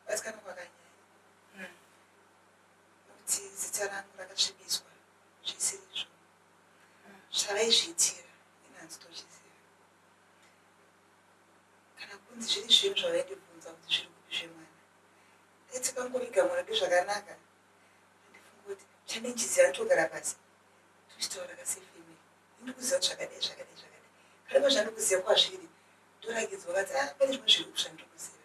Kubatikana kwakanyanya umm nokuti zita rangu rakasvibiswa zvisirizvo umm zvavaizviitira ini hanzi tozviziva kana kunzi zviri zvinhu zvavaindibvunza kuti zviri kupi zvemwana ndati pangoviga mwana ndozvakanaka andifunga kuti chanenjizi anotogara pasi tochitaura kasefemili indikuziva kuti zvakadai zvakadai zvakadai kana pazvandikuziva kwazviri ndorakidzwa kati ah pane zvimwe zviri kushandikuziva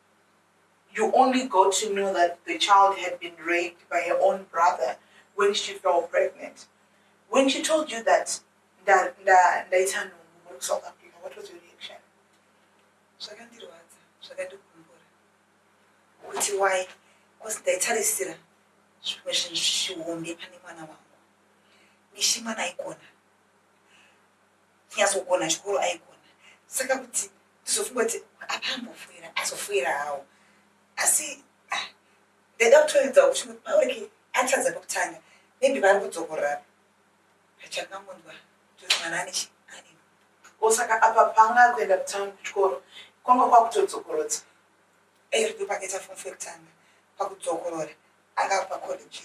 You only got to know that the child had been raped by her own brother when she fell pregnant. When she told you that nda nda ndaita nhumbu muri kusouth africa what was your reaction zvakandirwadza zvakandigumbura kuti why bcause ndaitarisira zvimwe zvinhu zvichihombe pane mwana wangu mishi mwana aikona kunyazogona chikoro aigona saka kuti ndizofunga kuti apa ambofuira azofuira hawo asi ah, ndaida kutoedzawo kuti paurike atadza pakutanga maybe vari kudzokorora pachangangonzwa kuti mwana ane chi osaka apa panga kuenda kutanga kuchikoro kwanga kwakutodzokorodza eiriko pakaita fomfekutanga pakudzokorora anga pacollege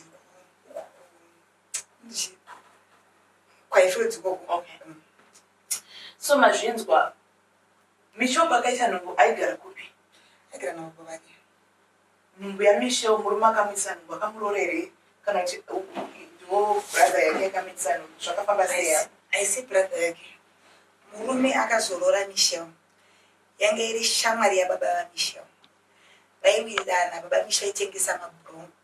kwaifilidzi koko okay. mm. so mazvinzwa michobho akaita nhumbu aigara kupi aigara navo vake nhumbu yamisheo murume akamuitisa nhumbu akamuroora here kana kuti ndiwo brother yake akamuitisa nhumbu zvakafamba seya aisi brother yake murume akazoroora misheo yange iri shamwari yababa vamisheo vaiwirirana baba misheo aitengesa mabhurungu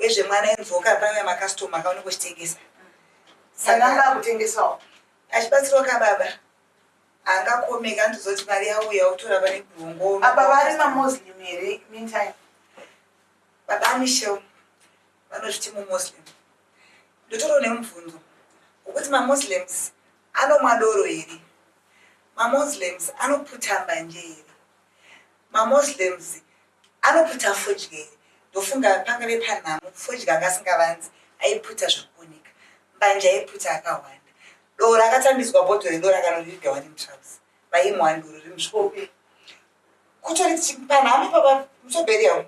wezve mwana invoka paya ma customer akaona kuchitengesa sananga akutengesawo achibatsirwa ka baba anga komeka ndizoti mari yauya utora pane bhongo apa vari ma muslim here meantime baba amishel vanozviti mu muslim ndotoro ne mubvunzo wekuti ma muslims anomwa doro here ma muslims anoputa mbanje here ma muslims Anoputa fodya iri ndofunga pangave panhamo fodya anga asingavanzi aiputa zvakuoneka mbanje aiputa akahwanda doro akatambidzwa bhodho redoro akanoririga wani mutrauzi vaimuha nduru rimusvope kutori panhamo baba musobheriya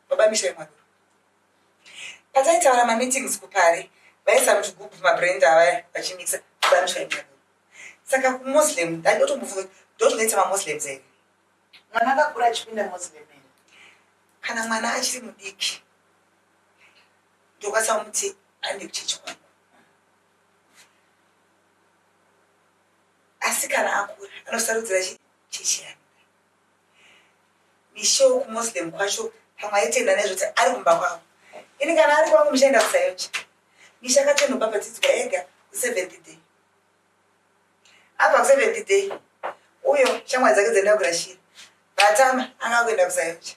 baba misha imwadoro pataitaura mameetings kupari vaisa muchigubhu mabrand avaya vachimisa baba misha imwadoro saka kumuslim ndandoti mufunga ndotinetsa mamuslims here Mwana akakura achipinda Muslim here? Kana mwana achiri mudiki ndokwanisa kumuti aende kuchechi kwangu. Asi kana akura anosarudzira chechi yake. Mishow kuMuslim kwacho pamwe aitenda nezvekuti ari kumba kwavo. Ini kana ari kwangu muchaenda kusayocha. Misha akatonoba padzidzwa ega ku 7th day. abva kuseventh day uyo shamwari dzake dzaenda kurashira vatama anga akuenda kuzayoja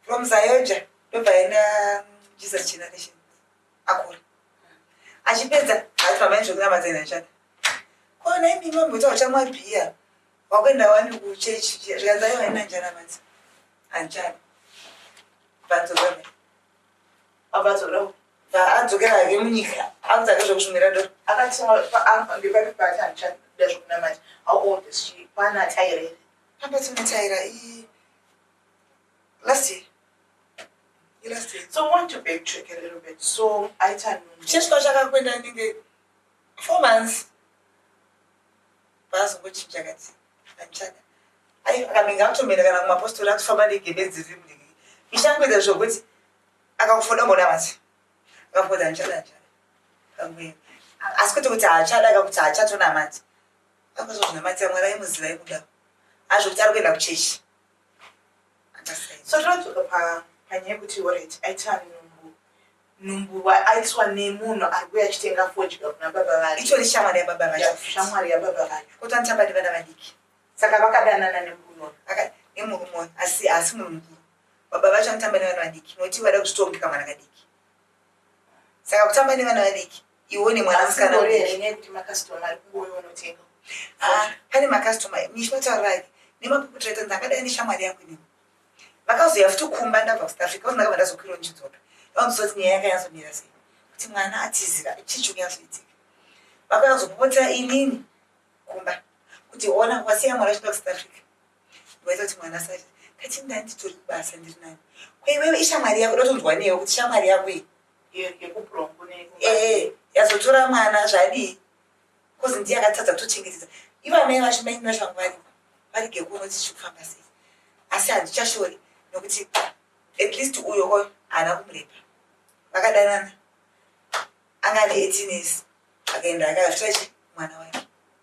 from zayoja ndobva aenda jesus generation akura achipedza ati mama zvekunamata inachata kona imi mamboita uchamwa bhiya wakuenda wani kuchechi zvikanzayo haina njana manzi hanjani vanzozaa Apa tsono adzokera hake munyika anza nezvekusumira ndo akatsoma paapa ndipati pati handichada zvekunamata how old is she kwana ataire apa tinotaira i last year last year so want to backtrack a little bit so aita cheswa chakakwenda ndinge four months paazongochinja kati andichada ai akanenge akutomenda kana kumapostori akufamba negebedzi riri mudiki ichangwedza zvokuti akakufoda mona mati akafoda andichada andichada kamwe asi kuti kuti haachada ka kuti haachatonamati akuzozvinamatira mwari aimuziva ikuda azvokuti ari kuenda kuchechi so tinodzoka pa panyaya yekuti orit aita nhumbu nhumbu aitwa nemunhu ari kuya achitenga fodya kuna baba vake itori shamwari yababa vacho shamwari yababa vacho kuti anichabadi vana vadiki saka vakadanana nemurume aka nemurume asi haasi munhu mudiki baba vacho anotamba nevana vadiki nokuti vada kuzvitongeka mwana kadiki saka kutamba nevana vadiki iwo nemwana musikana ah, pane makastoma nishinotaurayi nemapuputiraita ndakadai neshamwari yako inini vakazouya futi kumba ndabva kusouth africa vazi ndakabva ndazokwira ndichidzoka vaonzwa kuti nyaya yakanyazomira sei kuti mwana atizira chii chikunyatsoitika vakauya kuzopopotera inini kumba kuti ona wasiya mwana achida kusouth africa ndoita kuti mwana asati kati ndani nditori kubasa ndiri nani kweiwewe ishamwari yako dotonzwa newe kuti shamwari yako iyi Eh, yazotora mwana zvadii bcause ndiye akatadza kutochengetedza ivo amai vacho maini vacho vanga varimo varige kuona kuti zviri kufamba sei asi handichashori nokuti at least uyo oyo haana kumurepa vakadanana anga ane eighteen years akaenda akazvitachi mwana wake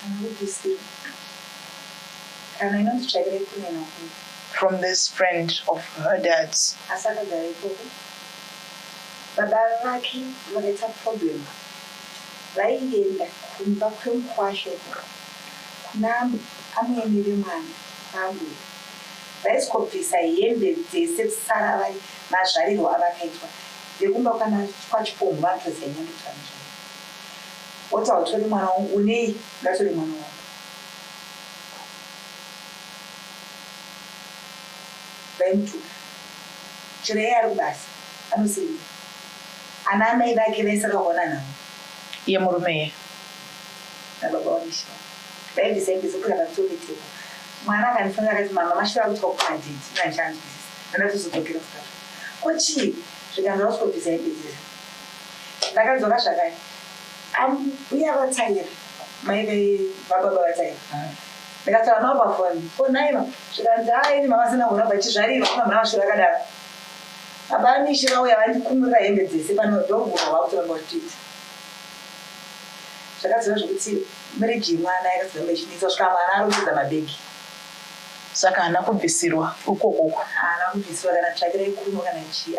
Kana kubvisirwa kana inonzi tsvakirai kune makuru. From this friend of her dad's. Asi akagara ikoko baba vake vakaita problem vaienda kumba kwemukwasha ikoko kuna amwene vemwana kwaambuya vaiskobvisa hembe dzese vsara vari mazvarirwo avakaitwa vekumba kwana kwachipombwa ndoziva nyandutano chaiyo Woti hautori mwana wangu unei ngatove mwana wangu. Vaimutuka chero iye ari kubasa anosevenza ana amai vake vese akaona nhamo yemurume iye nababa wamishina vaibvisa ibvisa kuda vakutopeteka mwana akandifonera akati mama mashura akuitwa kumadhidi nandichaanzwisisa nandatozodzokera kusaka ko chii zvikanzi vakutopiza ibvisa Ndakadzoka zvakare ambuya vaTaira mai vababa vaTaira ndikataura navo pafoni ko nhaiva zvikanzi haa ini mama sina kuramba ichizvarirwa kuna mwana vasvira akadaro baba amishe vauya vandikumurira hembe dzese pano ndovhura vakutoramba kutiita zvakadzora zvekuti mirigi yemwana yakadzoramba ichinetsa svika mwana arongedza mabhegi saka haana kubvisirwa ukokoko haana kubvisirwa kana tsvakira ikuno kana chii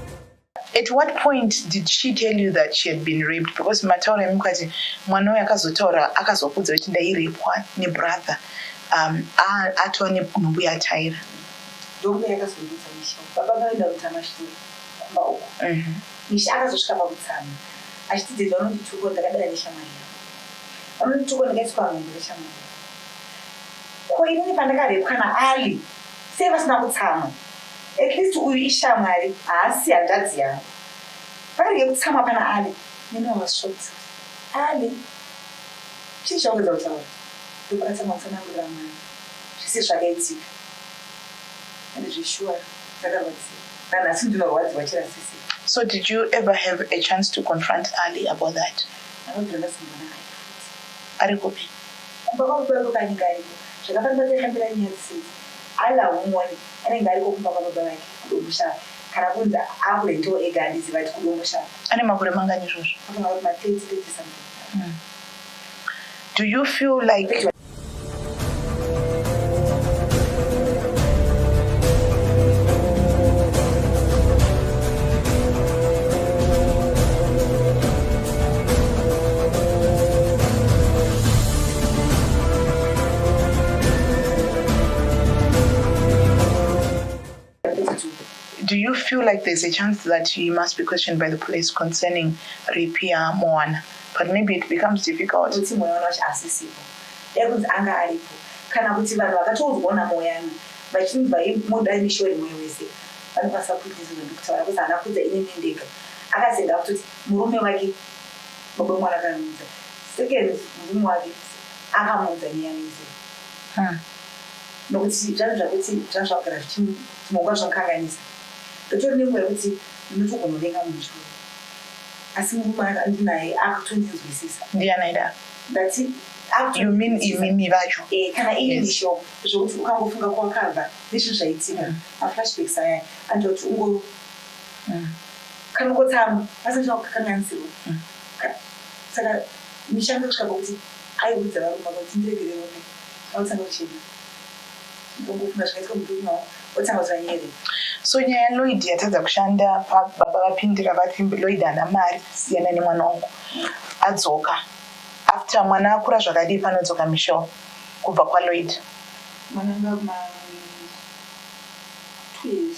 At what point did she tell you that she had been raped? Because mataura emukati mwana uyu akazotaura akazokudza kuti ndairepwa nebrother um, atova nenhumbu yataira ndombe yakazondudza misha baba vaenda kutamashure kumba uko mhm. misha akazosvika pakutsama achiti dede vanondituko ndakadara neshamwari yavo vanondituko ndakaiswa nhumbu neshamwari ko inini pandakarepwa naali sei vasina kutsama At least uyu ishamwari haasi hanzvadzi yangu. Varege kutsamwa pana Ali nenovasvotsa. Ali, chii chaunodza kutaura? Ndokukatsa mawatsanangurira mwana zvese zvakaitika. And zveshuwa ndakarwadziwa. Nanhasi ndinorwadziwa chirasisi. So did you ever have a chance to confront Ali about that? Anobvira ndasangana naye futi. Ari kupi? Kumba kwavo kwaivo kanyika ariko. Zvakafanira kuti akambira nyaya dzisidzi. Ali haumuoni. Anenge ariko kumba kwababa vake kuDomboshava kana kunzi akurentewo ega handizive ati kuDomboshava. Ane makore mangani izvozvo? Anofunga kuti ma 30, 30 something. Do you feel like. Do you feel like there's a chance that you must be questioned by the police concerning Ripia Moana? But maybe it becomes difficult. Kuti Moana wacho asisipo. Yakunzi anga aripo. Kana kuti vanhu vakatoudzwa naMoana vachinzi vaimuda mishori moyo wese. Vanokwanisa kuita izvozvo ndikutaura kuti haana kuudza ini ndega. Akasenga kutoti murume wake baba mwana akamuudza. Second murume wake akamuudza nyaya yese. Huh nokuti zvangu zvakuti zvanga zvakugara zvichimhongwa zvakanganisa ndotori nenguva yekuti ndinotogonovenga munhu zvikuru asi murume andinaye akutondinzwisisa. Ndiani aidaro? Ndati akutondinzwisisa. You mean imimi vacho? Eh kana ini ndishewo zvekuti ukangofunga kwawakabva nezvinhu zvaitika maflashbacks aya anoita kuti ungo kanokotsamwa asi ndichava kukanganisirwa saka misha yanga kusvika pakuti Aiudza varume ava kuti ndiregerere hope vautsanwe kuchema ndikongofunga zvakaitika murume wavo otanga kuti vanyere. So nyaya ya Lloyd yatadza kushanda baba vapindira vati Lloyd haana mari siyana nemwana wangu adzoka after mwana akura zvakadii panodzoka Michelle kubva kwa Lloyd. Mwana anga ma two years.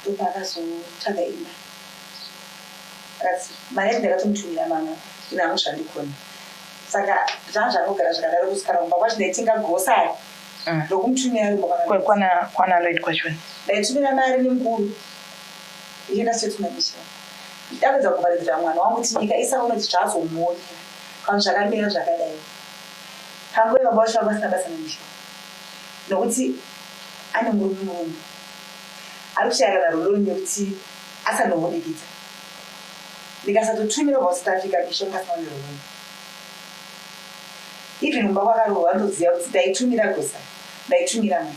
ndopaakazotsvaga imba akati mari yacho ndakatomutumira mama ine amwe zvandikoni saka zvanga zvangogara zvakadaro kusikana kumba kwacho ndaitenga gosari ndokumutumira mm. yomokwana lloyd kwachona ndaitumira mari nemukuru ichienda setumanisha ndapedza kuvharidzira mwana wangu kuti nyika isaunoti zvaazomuonera kana zvakamira zvakadai panguva baba vacho vanga vasina basa nemisha nokuti ane murume mumwe ari kushayana naroloni nekuti asanohudikidza ndikasatotumirwa kusouth africa mishonga asina kune roloni even kumba kwakarohwa ndoziva kuti ndaitumira gosa ndaitumira mai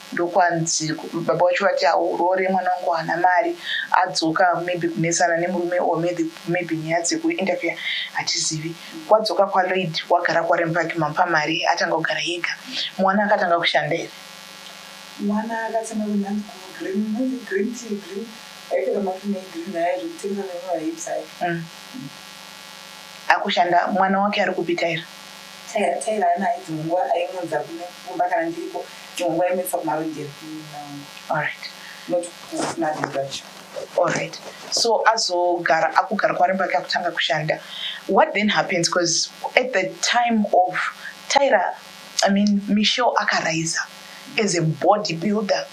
ndokwanzi baba wacho vati haurore mwana wangu haana mari adzoka maybe kunetsana nemurume or maybe nyaya dzekuinterfere hatizivi wadzoka kwaloid wagara kwarem pake mampa mari atanga kugara yega mwana akatanga kushanda here mwana akatanga kunanzi green nanzi green tea green aipera mapine egreen aya zvekutengesa nemavahips aya mm. akushanda mwana wake ari kupita here Tyra Tyra haana hayi dzimwe nguva ayimuunza kuno kumba kana ndiriko dzimwe nguva ayimuendesa kumarondero Alright not kuna dad vacho. Alright so azogara akugara kwaari pake akutanga kushanda what then happens coz at the time of Tyra I mean Michelle akaraiser as a body builder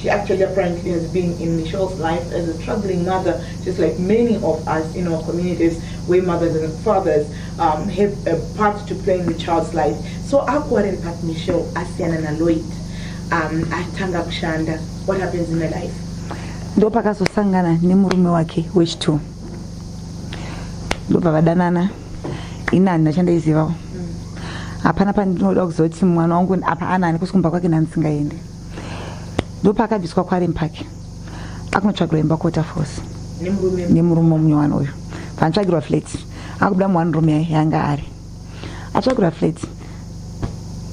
She actually apparently has been in Michelle's life as a troubling mother, just like many of us in our communities where mothers and fathers um, have a part to play in the child's life. So akuwariri pat Michelle asiyana na Lloyd um, atanga kushanda. What happens in her life? Ndo pakazosangana nemurume wake wechitu ndobva vadanana ini handina chandaizivawo mm. hapana pandinoda kuzoti mwana wangu apa anani kusikumba kwake nanisingaende ndopaakabviswa kwaren park akunotsvagirwa imba kuwater force nemurume mumwe wani uyu paanotsvagirwa flat akubuda muwani rume yanga ari atsvagirwa flat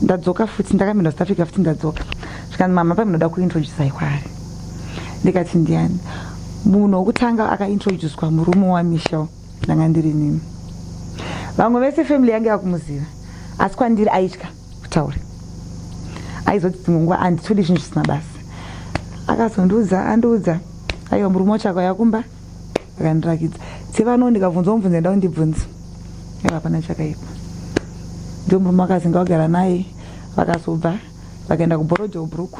ndadzoka futi ndakamira south africa futi ndadzoka zvikanzi mama pamunoda kuintroducai kwaari ndikati ndiani munhu wokutanga akaintroducwa murume wamichel ndanga ndiri nini vamwe vese family yange yakumuziva asi kwandiri aitya kutaure aizoti dzimwe nguva anditodi zvinhu zvisina basa akazondiudza andiudza aiwa murume watsvako yakumba akandirakidza sevano ndikabvunza omubvunza enda undibvunza aiwa hapana chakaipa ndio murume akazinga wagara naye vakazobva vakaenda kuborojo bhuruku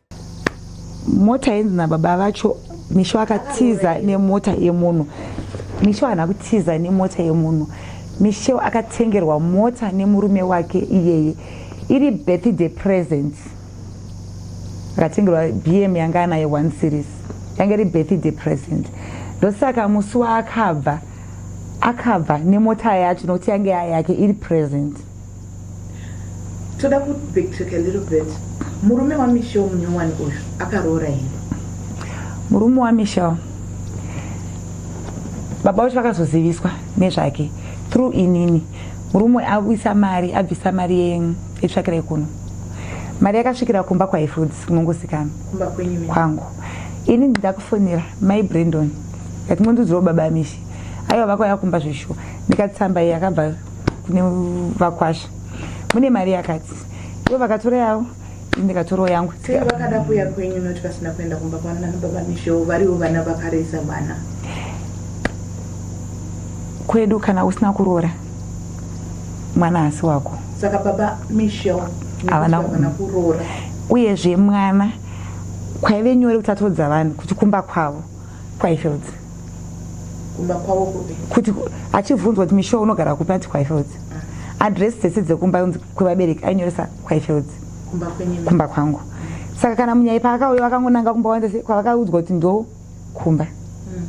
mota yenzi nababa vacho misho akatiza nemota yemunhu misho haana kutiza nemota yemunhu misho akatengerwa mota nemurume wake iyeye iri birthday present akatengerwa bm yanga anaye one series yanga iri birthday present ndosaka musi waakabva akabva nemota yacho nokuti yange yake iri present toda ku backtrack a little bit murume wamichel munyowani uyu akaroora here murume wamichel baba vacho vakazoziviswa nezvake through inini murume abvisa mari abvisa mari yetsvakira yekuno mari yakasvikira kumba kwaifoods kunongosikana kwangu ini ndakufonera mai brandon ndatingondidzirawo baba mishi aiwa vakauya kumba zveshuwa ndikatsamba iyi akabva nevakwasha mune mari yakati ivo vakatora yavo ndikatorawo yangu vakada kuya kwenyu noti vasina kuenda kumba kwanana nababa misho variwo vana vakaresa vana kwedu kana usina kuroora mwana asi wako saka baba michel havana kuroora uyezve mwana kwaive nyore kutatodza vanhu kuti kumba kwavo kwaifels kumba kwavo kupi kuti achibvunzwa kuti misho unogara kupi ati kwaifels ah. adress dzese dzekumba unzi kwevabereki ainyoresa kwaifels kumba kwangu saka kana munyai paakauya vakangonanga kumba wanza kwavakaudzwa kuti ndo kumba hmm.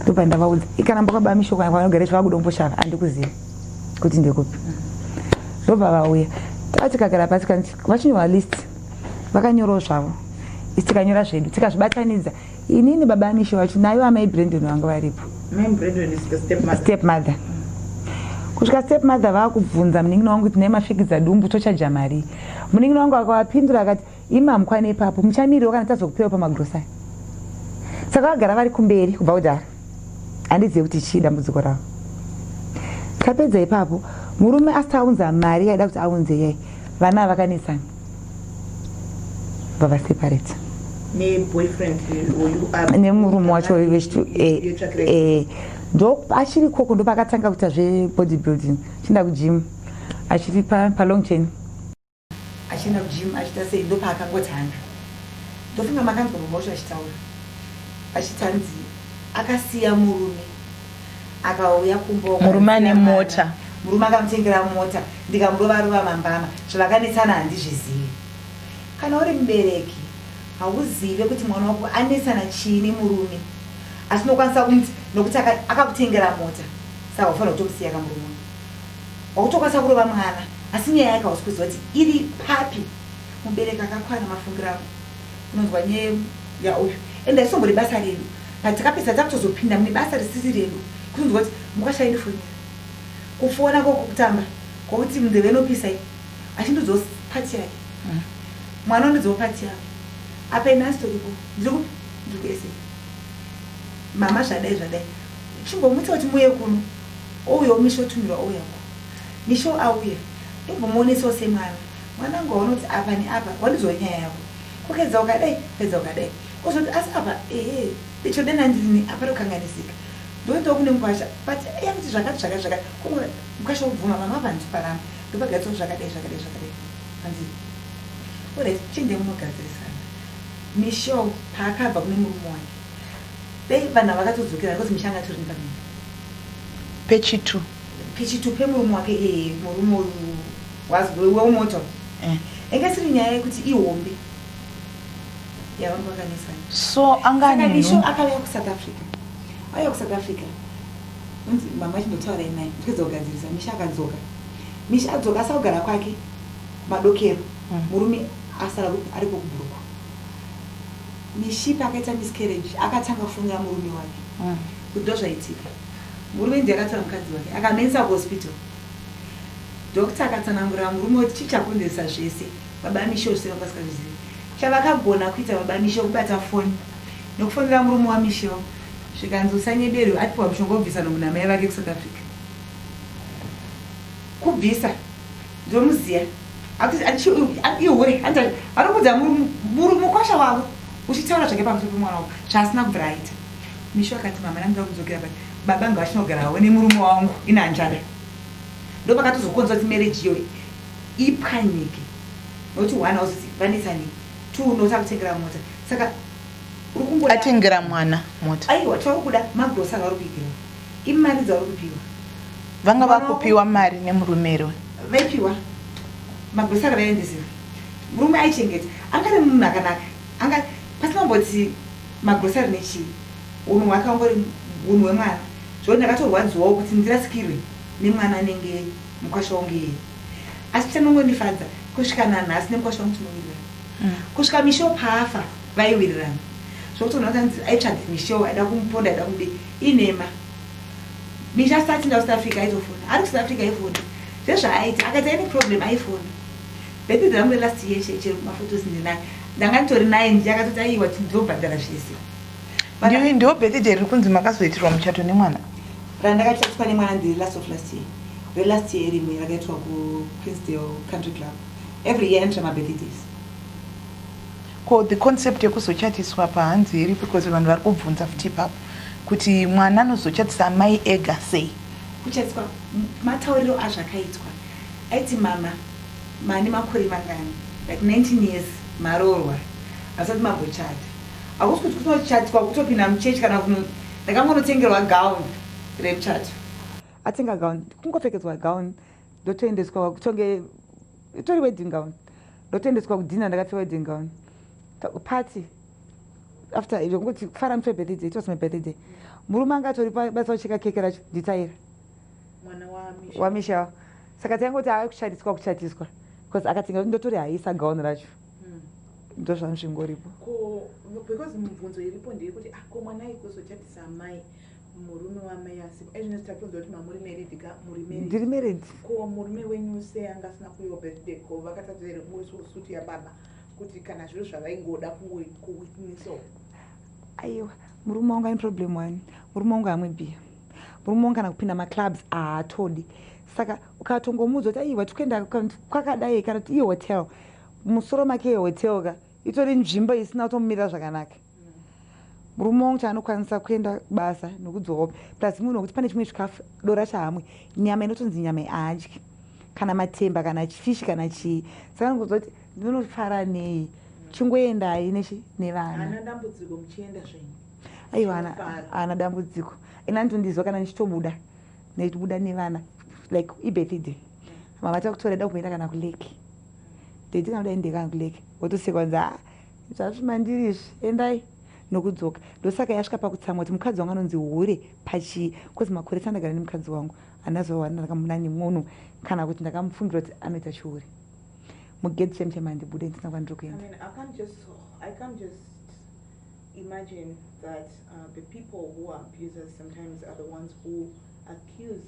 ndopa ndavaudza ikanamba kwabaa misho kwavanogara izvo vakuda kumboshava andikuziva kuti ndekupi hmm. ndobva vauya tatikagara pasi vachinyowa list vakanyorawo zvavo isi tikanyora zvedu tikazvibatanidza inini baba amishe vacho naivo amai brendon vanga varipo step mother kusvika step mother vakubvunza munin'ina wangu kuti nemafikidza dumbu tochaja mari munin'ina wangu akavapindura akati imi hamukwane ipapo muchamiriro kana tazokupewa pamagrosari saka vagara vari kumberi kubva kudhara handizive kuti chii dambudziko ravo tapedza ipapo murume asati aunza mari yaida kuti aunze yai vana avakanesana vavaseparate nemurume wacho achiri eh, eh, koko ndopakatanga kuita zvebody building chienda kujimu achiri palong chain Achienda kugym achiita sei ndopaakangotanga ndofunga makanzwa mama wacho achitaura achiti hanzi akasiya murume akauya kumba murume ane mota murume akamutengera mota ndikamurova rova mambama zvavakanetsana handizvizivi kana uri mubereki hauzive kuti mwana wako anetsana chii nemurume asi unokwanisa kumuti nokuti akakutengera mota saka ufanira kutomusiya kamurume Wakutokwanisa kurova mwana asi nyaya yake hausi kuziva kuti iri papi mubereki akakwana mafungiro ako unonzwa nye ya uyu ende haisongori basa redu but takapedza takutozopinda mune basa risiri redu kutonzwa kuti mukwasha indifonera kufona kokutamba kokuti mundeve inopisa i achindiudzawo pati yake mm. mwana undiudzawo pati yake apa ini asi toripo ndiri kupi ndiri kuese mama zvadai zvadai chimbomuti kuti muye kuno Ouyawo Misha otumirwa ouya uko. Misha oauya ndombomoonesawo semwana. Mwanangu waunoti apa neapa wandidzwa nyaya yako. Kukedza wakadai kukedza wakadai. Ozoti asi apa ehe ndichoda nandini apa ndokanganisika. Ndoendawo kune mukwasha but iye anoti zvakati zvakati zvakati kungoti mukwasha obvuma mama apa handisi paramba ndopagariswa zvakadai zvakadai zvakadai. Hanzi alright chiendai munogadzirisana. Misha paakabva kune murume wake. Dai vanhu ava vakatodzokera because Misha anga atori nepamimba. Pechitu. Pechitu pemurume wake ee eh, murume uyu was wemoto. Eh. Inga isiri nyaya yekuti ihombe. Yavanga vakanesa. So anga ane nhumbu. Saka Misha akauya kuSouth Africa. Auya kuSouth Africa. Unzi mama chindotaura imai. Ndikadza kugadzirisa Misha akadzoka. Misha adzoka asakugara kwake madokero. Mm. Murume asara ariko kubhuruku. Mishipi akaita miscarriage akatanga kufonera murume wake kuti ndozvaitika. Murume ndiye akatora mukadzi wake akamuendesa kuhospital. Doctor akatsanangurira murume kuti chii chakonzeresa zvese. Baba Misho zvese vanga vasikazvizivi. Chavakagona kuita baba Misho kubata foni nekufonera murume waMisho zvikanzi usanyeberwe atipiwa mushonga wobvisa nhumbu namai vake kuSouth Africa. Kubvisa. Ndomuziya. Ati ati ati hure ati arikudza muri mukwasha wavo uchitaura zvake pamusoro pemwana wavo zvaasina kubvira aita. Mishu akati mama ndanga kudzokera but baba ngavachinogara havo nemurume wangu ina hanjada. Ndopakatozokonza kuti marriage iyoyi ipwanyike. Nokuti one hauzizi vanetsa nei. Two unotsa kutengera mota. Saka uri kungoda. Atengera mwana mota. Aiwa taukuda magrosa vari kuitirwa. Imari dzauri kupiwa. Vanga vakupiwa mari nemurume here uyu? Vaipiwa. Magrocery vaiendesera. Murume aichengeta. Anga ari munhu akanaka. Anga pasina kumboti magrocery nechii. Unhu hwake hwangori unhu hwemwana. Zvekuti ndakatorwadziwawo kuti ndirasikirwe nemwana anenge mukwasha wangu iyeye. Asi chanongondifadza kusvika nanhasi nemukwasha wangu tinowirirana. Kusvika Michelle paafa vaiwirirana. Zvekuti unhu wakanzi aitsvage Michelle aida kumuponda aida kudii. Inhema. Misha asati atsinda kuSouth Africa aitofona. Ari kuSouth Africa aifona. Zvezvaaita akaita any problem aifona. Birthday rangu relast year chete chero maphotos ndinayo. Ndanga nditori naye ndiye akatoti aiwa tinobhadhara zvese. But Ndiyo ndiyo birthday riri kunzi makazoitirwa muchato nemwana. randakachatiswa nemwana ndiri last of last year. Relast year rimwe rakaitwa kuQueensdale Country Club. Every year anoita mabirthdays. Ko the concept yekuzochatiswa apa hanzi iripo because vanhu vari kubvunza futi ipapo kuti mwana anozochatisa amai ega sei kuchatiswa matauriro azvakaitwa aiti mama mane makore mangani like 19 years maroorwa asati magochata hakusi kuti kutochatiswa kutopinda muchechi kana kuno ndakangonotengerwa gown remuchato atenga gown kungopfekedzwa gown ndotoendeswa kutonge itori wedding gown ndotendeswa kudhina ndakapfeka wedding gown party after zvekungoti kufara mutwe birthday it was my birthday murume anga atori pabasa kucheka keke racho nditaira wamisha saka taingoti ave kuchatiswa kuchatiswa bcause akatinga kuti ndotori haisa gauni racho hmm. ndozvangu zvingoripo because mubvunzo iripo ndeyekuti akomana ah, ikuzochatisa amai murume wamai asiko ezvi nesi tatonzwa kuti mamuri married ka muri married ndiri married ko murume wenyu se anga asina kuyo birthday ko vakatadza here muri so suit ya baba kuti kana zviro zvavaingoda kungo ku witness all aiwa murume wangu ane problem one murume wangu amwe beer murume wangu kana kupinda ma clubs aatodi saka ukatongomuudza kuti aiwa tikuenda kwakadai kana kuti ihotel musoro make ihotel ka itori nzvimbo isina kutomumirira zvakanaka murume wangu chaanokwanisa kuenda kubasa nokudzoka hope plus munhu wekuti pane chimwe chikafu dora chahamwe nyama inotonzi nyama aadyi kana matemba kana chifishi kana chii saka nikuziva kuti ndinonofara nei chingoendai nechi nevana aiwa haana dambudziko and anotondizwa kana ndichitobuda ndichibuda nevana like ibirthday mama takutora da kumboenda kana kulake ndaitikanoda endekana kulake wotosekwanza Zvazvi mandiri izvi endai nokudzoka ndosaka yasvika pakutsamwa kuti mukadzi wangu anonzi hure pachii coz makore sandagara nemukadzi wangu hana zuva wani ndakamuda nemunhu kana kuti ndakamufungira kuti anoita chihure mugedhi chemchema handibude ndisina kwandiri kuenda imagine that uh, the people who are abusers sometimes are the ones who accuse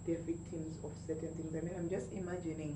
their victims of certain things i mean i'm just imagining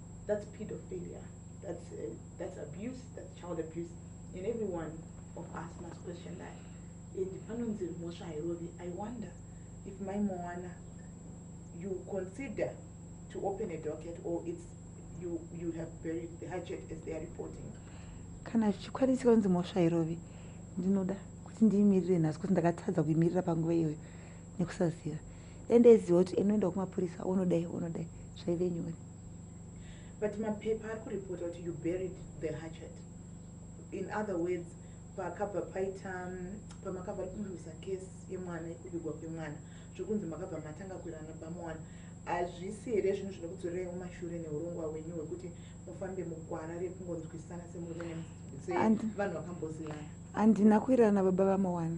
that's pedophilia that's, uh, that's abuse that's child abuse and everyone of us must question that and panonzi mhosva hairovi i wonder if mai mowana you consider to open a docket or it's you, you have buried the hatchet as they are reporting kana zvichikwanisi kanzi mhosva hairovi ndinoda kuti ndiimirire nhasi kuti ndakatadza kuimirira panguva iyoyo nekusaziva ende eziva kuti enoenda kumapurisa onodai onodai zvaive nyore but mapepa ari kuripota kuti you buried the hatchet in other words pakabva paita mm, pamakabva ari kunduza case yemwana yekubigwa kwemwana zvekunzi makabva matanga kuirana bamowana hazvisi here zvinhu zvinokudzorerai mumashure neurongwa hwenyu hwekuti mufambe mugwara rekungonzwisana semurume sevanhu vakambozivana handina kuirana baba vamowana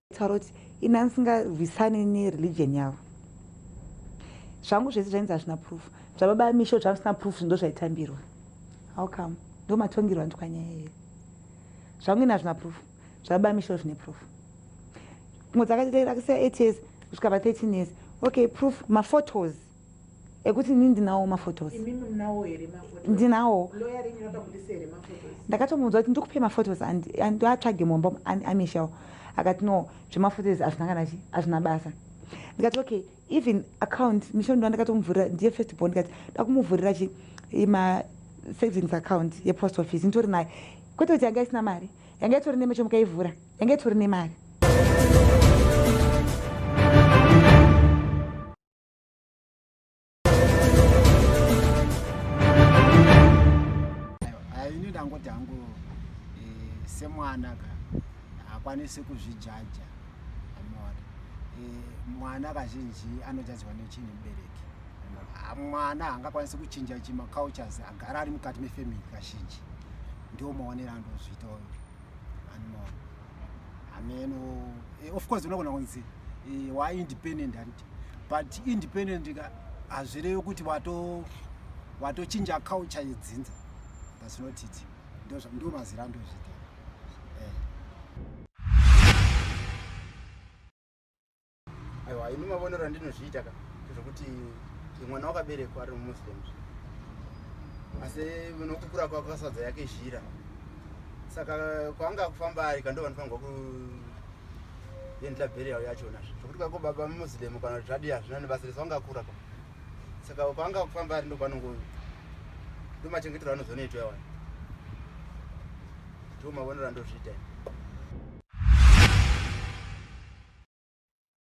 Taura kuti ini handisingarwisane nereligion yavo zvangu zvese zvainzi hazvina proof zvababa amisho zvangu zvisina proof zvindo zvaitambirwa how come ndo matongirwa nditwa nyaya here zvangu ini hazvina proof zvababa amisho zvine proof mwe dzakaita years kusvika pa 13 years okay proof maphotos ekuti ini ndinawo maphotos ndinawo ndakatomuudza kuti ndikupe maphotos ndoatsvage mumba amishel akati no zvemaphotos azvina kana chi azvina basa ndikati okay even account mishel ndo ndakatomuvhurira ndiye first bond ndikati ndakumuvhurira chi ima savings account yepost office nditori naye kwete kuti yanga isina mari yanga itori nemecho mukaivhura yanga itori nemari ini ndangoti hangu eh, semwana ka hakwanisi kuzvijaja amona eh, mwana kazhinji anojajwa nechinhu mubereki ah, mwana hangakwanisi kuchinja chi macultures agara ari mukati mefamily kazhinji ndiwo maonero andozviita oyo anmona hameno eh, of course unogona kunzi wa independent hanti but independent ka hazvirevi kuti watochinja culture yedzinza thats not it ndo mazira andozvita eh. aiwa ini mavonero andinozviita ka zvekuti mwana wakaberekwa ari mumuslim asi nokukura kwako kasadza yake zhira saka kwaanga kufamba ari kandovanofangwa ku then ta burial yachona zvekuti kako baba muslim kana zvadi hazvina nebasa rese wangakura pa saka kwaanga kufamba ari ndopanongo ndomachengetero anozonoitwa wani ndiwo mavonero andozviita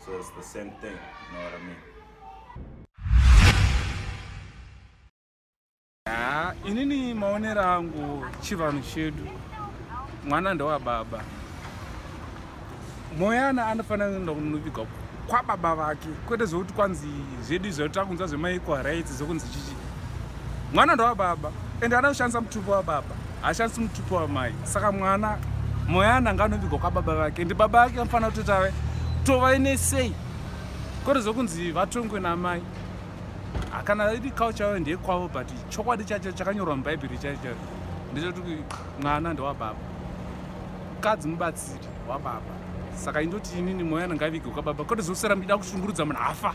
So it's the same thing, you know what I mean? Ah, inini maonero angu chivanhu chedu mwana ndewababa moyana anofanira kuenda kunoviga kwababa vake kwete zvekuti kwanzi zvedu izvo takunzwa zvemaequal rights zvekunzi chichi mwana ndowababa ende ada kushandisa mutupo wababa haashandisi mutupo wamai saka mwana moya ananga anovigwa kwababa vake ende baba vake vanofanira kutoti ave tovaine sei kore zvokunzi vatongwe namai hakana iri culture yayo ndeyekwavo but chokwadi chacho chakanyorwa mubhaibheri chacho chacho ndechokuti mwana ndewababa mukadzi mubatsiri wababa saka indoti inini moya ananga avigwa kwababa kore zvokusera mdida kushungurudza munhu afa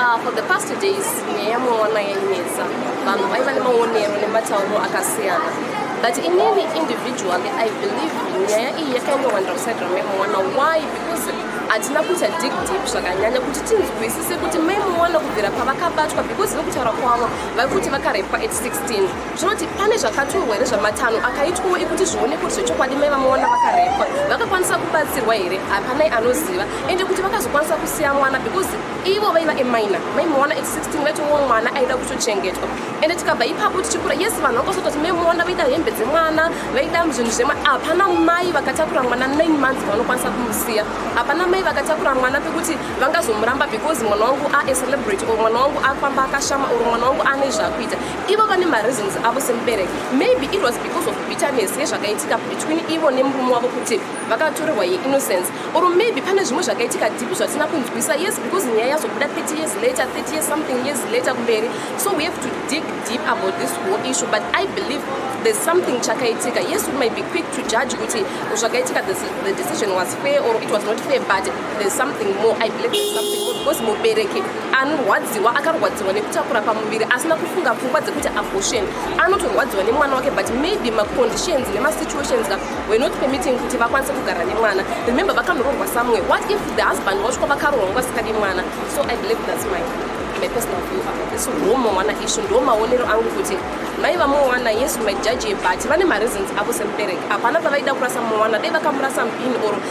Uh, for the past two days nyaya yamuona yainetsa vanhu vaiva nemaonero nematauro akasiyana but inini individually i believe nyaya iyi yakanyowanda kuside ramamuona why because hatina kuita dig deep zvakanyanya kuti tinzwisise kuti maimuona kubvira pavakabatwa because vekutaura kwavo vaikuti vakarepa at 16 zvinoti pane zvakaturwa here zvamatanho akaitwawo ekuti zvione kuti zvechokwadi mai vamawana vakarepwa vakakwanisa kubatsirwa here hapanai anoziva ende kuti vakazokwanisa kusiya mwana because ivo vaiva emaina mai mawana at 16 vaitowo mwana aida kutochengetwa ende tikabva ipapo tichikura yes vanhu vakasota kuti mai mawana vaida hembe dzemwana vaida zvinhu zvema hapana mai vakatakura mwana 9 months vanokwanisa kumusiya hapana mai vakatakura mwana pekuti vangazomuramba because mwana wangu aecelebrate or mwana wangu afamba akashama or mwana wangu ane zvakuita ivo vane mareasons avo semubereki maybe it was because of bitterness yezvakaitika between ivo nemurume wavo kuti vakatorerwa yeinnocence or maybe pane zvimwe zvakaitika dipi zvatisina kunzwisa yes because nyaya yazobuda 30 years later 30 years something years later kumberi so we have to dig deep about this whole issue but i believe there's something chakaitika yes we might be quick to judge kuti zvakaitika the decision was fair or it was not fair but there's something more i believe there's something more because mubereki anorwadziwa akarwadziwa nekutakura pamuviri asina kufunga pfungwa dzekuti abortion anotorwadziwa nemwana wake but maybe maconditions nemasituations ka were not permitting kuti vakwanise kugara nemwana remember vakanorongwa somewhere what if the husband wasvika vakarongwa sika nemwana so i believe that's my my personal view about this ndomawana ishu ndomaonero angu kuti mai vamowana yes my judge but vane mareasons avo semubereki hapana pavaida kurasa mowana dai vakamurasa mpini or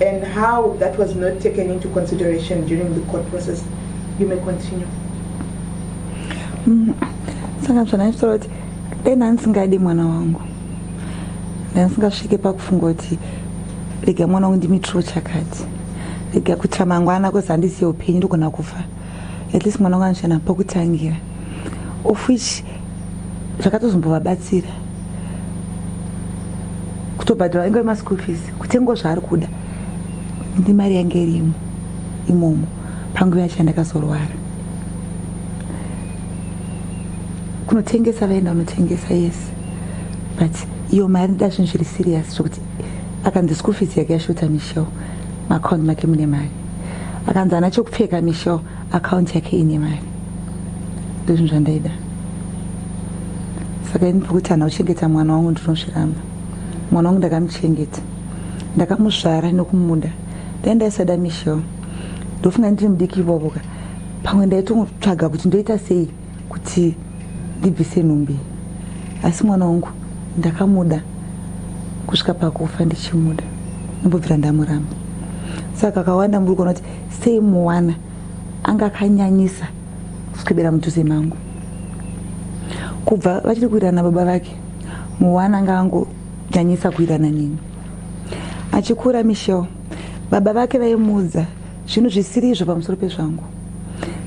and how that was not taken into consideration during the court process you may continue mm-hmm. saka zvanaisora kuti dai ndandisingadi mwana wangu ndandisingafike pakufunga kuti rega mwana wangu ndimitrwo chakati rega kuitira mangwana kozi handiziye upenyu ndogona kufa at least mwana wanga anoshana pokutangira of which zvakatozombovabatsira kutobhadhara inga yemaschool fees kutengo zvaari kuda ndi mari yange irimo imomo panguva yacho yandakazorwara kunotengesa vaenda unotengesa yes but iyo mari ndida zvinhu zviri serious zvokuti akanzi school fees yake yashota michel macound make mune mari akanzi ana chokupfeka michel akaunti yake ine mari ndozvinhu zvandaida saka ini pokuti hana kuchengeta mwana wangu ndinozviramba mwana wangu ndakamuchengeta ndakamuzvara nekumuda dai ndaisada michel ndofunga ndiri mudiki ivovoka pamwe ndaitongotsvaga kuti ndoita sei kuti ndibvise nhumbi asi mwana wangu ndakamuda kusvika pakufa ndichimuda nombobvira ndamuramba saka kakawanda muri kuona kuti sei muwana anga akanyanyisa kuswebera mudhuze mangu kubva vachiri kuirana baba vake muwana anga angonyanyisa kuirana nini achikura michel baba vake vaimuudza zvinhu zvisiri izvo pamusoro pezvangu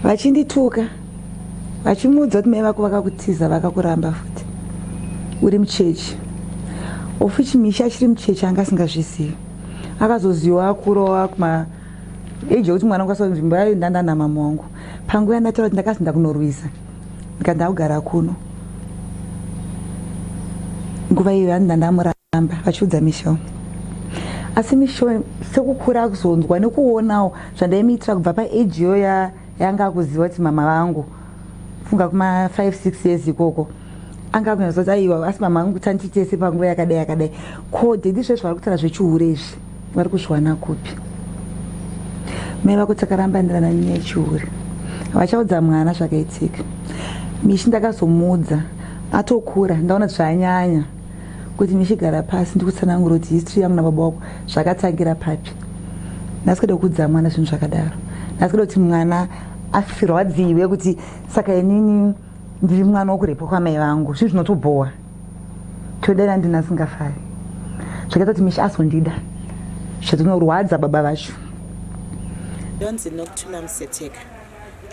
vachindituka vachimuudza kuti mai vako vakakutiza vakakuramba futi uri muchechi of which misha achiri muchechi anga asingazvizivi akazoziwa akurowa kuma age yekuti mwana kwasa nzvimbo yayo ndandana mama wangu panguva yandataura kuti ndakasi ndakunorwisa ndikanda kugara kuno nguva iyo yandi ndandamuramba vachiudza misho asi misho sekukura kuzonzwa nekuonawo zvandaimuitira kubva paage iyo yanga akuziva kuti mama vangu funga kuma 5 6 years ikoko anga akunyatsa kuti aiwa asi mama vangu kuti andiitese panguva yakadai yakadai ko dedi zvezvo vari kutaura zvechihure izvi vari kuzviwana kupi mai vako takaramba ndirana nyaya yechihure vachaudza mwana zvakaitika mishi ndakazomuudza atokura ndaona zvanyanya kuti ndichigara pasi ndikutsanangura kuti history yangu nababa wako zvakatangira papi nhasi kuda kuudza mwana zvinhu zvakadaro nhasi kuda kuti mwana asirwadziwe kuti saka inini ndiri mwana wokurepwa kwamai vangu zvinhu zvinotobhowa todera ndini asingafari zvakaita kuti misha azondida zvatinorwadza baba vacho ndonzi nokutuna museteka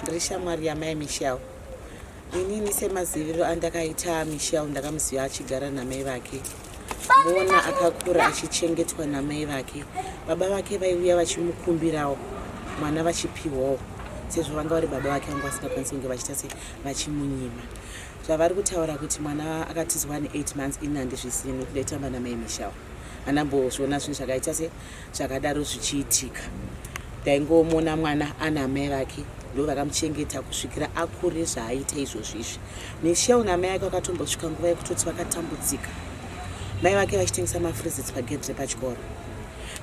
ndiri shamwari yamai mishao inini semaziviro andakaita michel ndakamuziva achigara namai vake mona akakura achichengetwa namai vake baba vake vaiuya vachimukumbirawo mwana vachipiwawo sezvo vanga vari baba vake vanga vasingakwanisi kunge vachiita se vachimunyima zvavari kutaura kuti mwana akatizwa ne eight months ini handizvisini kudai tamba namai michel anambozviona zvinhu zvakaita se zvakadaro zvichiitika ndaingomona mwana ana amai vake ndo vakamuchengeta kusvikira akure zvaaita izvozvi izvi michel namai ake vakatombosvika nguva yekutoti vakatambudzika mai vake vachitengesa mafrizits pagedhi repachikoro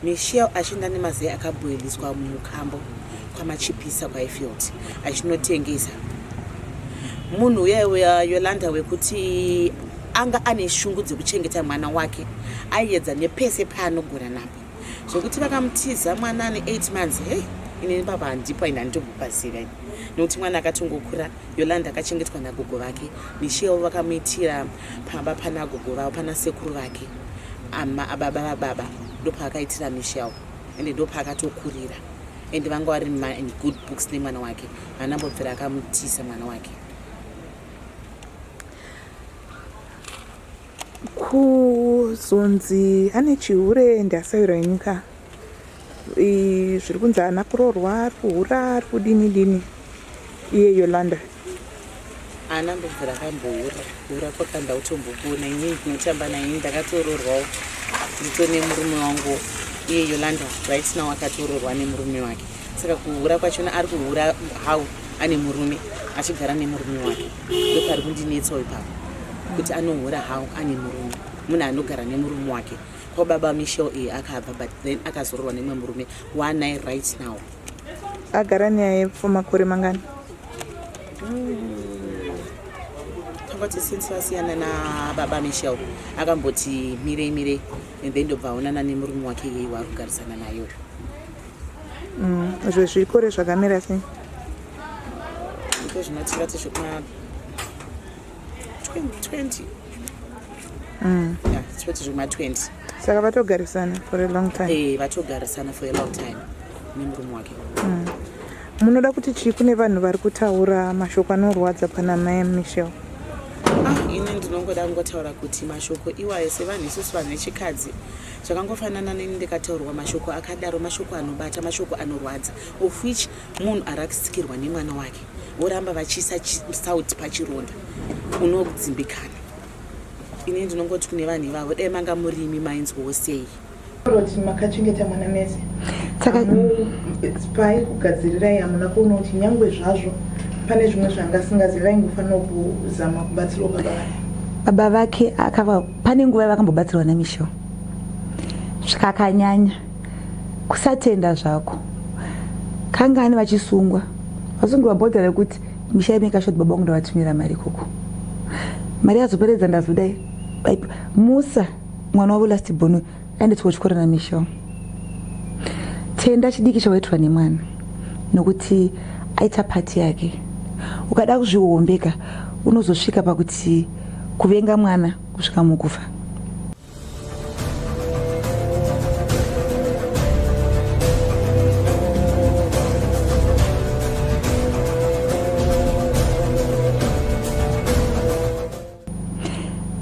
michel achienda nemazai akaboiliswa mumukambo kwamachipisa kwaifield achinotengesa munhu uya yolanda wekuti anga ane shungu dzekuchengeta mwana wake aiedza nepese paanogona napo zvekuti vakamutiza mwana ane 8 months hei inini baba handipo and handimbopaziva ini nekuti mwana akatongokura yolanda akachengetwa nagogo vake michel vakamuitira pamba pana gogo vavo pana sekuru vake ama ababa vababa ndopaakaitira michel and ndopaakatokurira and vanga vari in good books nemwana wake hanambobvira akamutisa mwana wake kuzonzi ane chihure ndi asairo ini ka zviri kunzi ana kuroorwa ari kuhura ari kudini dini iye yolanda ana mbudzi rakambohura hura kwakanda utombokuona ini ndinotamba naye ndakatoroorwawo ndito nemurume wangu iye yolanda right now akatoroorwa nemurume wake saka kuhura kwachona ari kuhura how ane murume achigara nemurume wake ndopari kundinetsawo ipapo kuti anohora how ane murume munhu anogara nemurume wake ko baba michel iyi akabva but then akazororwa nemwe murume waanai right now agara naye for makore mangani akati hmm. since vasiyana nababa michel akamboti mirei mirei and then ndobva aonana nemurume wake yei waari kugarisana nayo Mm, izvo zvikore zvakamira sei ndozvinotingati zvekuma 20 mm. yeah, toti zvekuma 20 saka vatogarisana for a long time hey, eh, vatogarisana for a long time nemurume wake mm. munoda kuti chii kune vanhu vari kutaura mashoko anorwadza pana mai michel ah, ini ndinongoda kungotaura kuti mashoko iwayo sevanhu isusu vanhu vechikadzi zvakangofanana neni ndikataurwa mashoko akadaro mashoko anobata mashoko anorwadza of which munhu arakisikirwa nemwana wake voramba vachiisa sauti pachironda unodzimbikana ini ndinongoti kune vanhu ivavo dai manga murimi mainzwawo sei roti makachengeta mwana mese saka pai kugadzirirai hamuna kuona kuti nyangwe zvazvo pane zvimwe zvangasingazivi vaingofanira kuzama kubatsirwa baba vake baba vake akava pane nguva yavakambobatsirwa namisho zvikakanyanya kusatenda zvako kangani vachisungwa vasungirwa bhodha rekuti misha yemekashoti baba vangu ndavatumira mari ikoko mari yazoperedza ndazodai musa mwana wavo last bono anditi kuchikoro namichel tenda chidiki chawaitirwa nemwana nokuti aita pati yake ukada kuzvihombeka unozosvika pakuti kuvenga mwana kusvika mukufa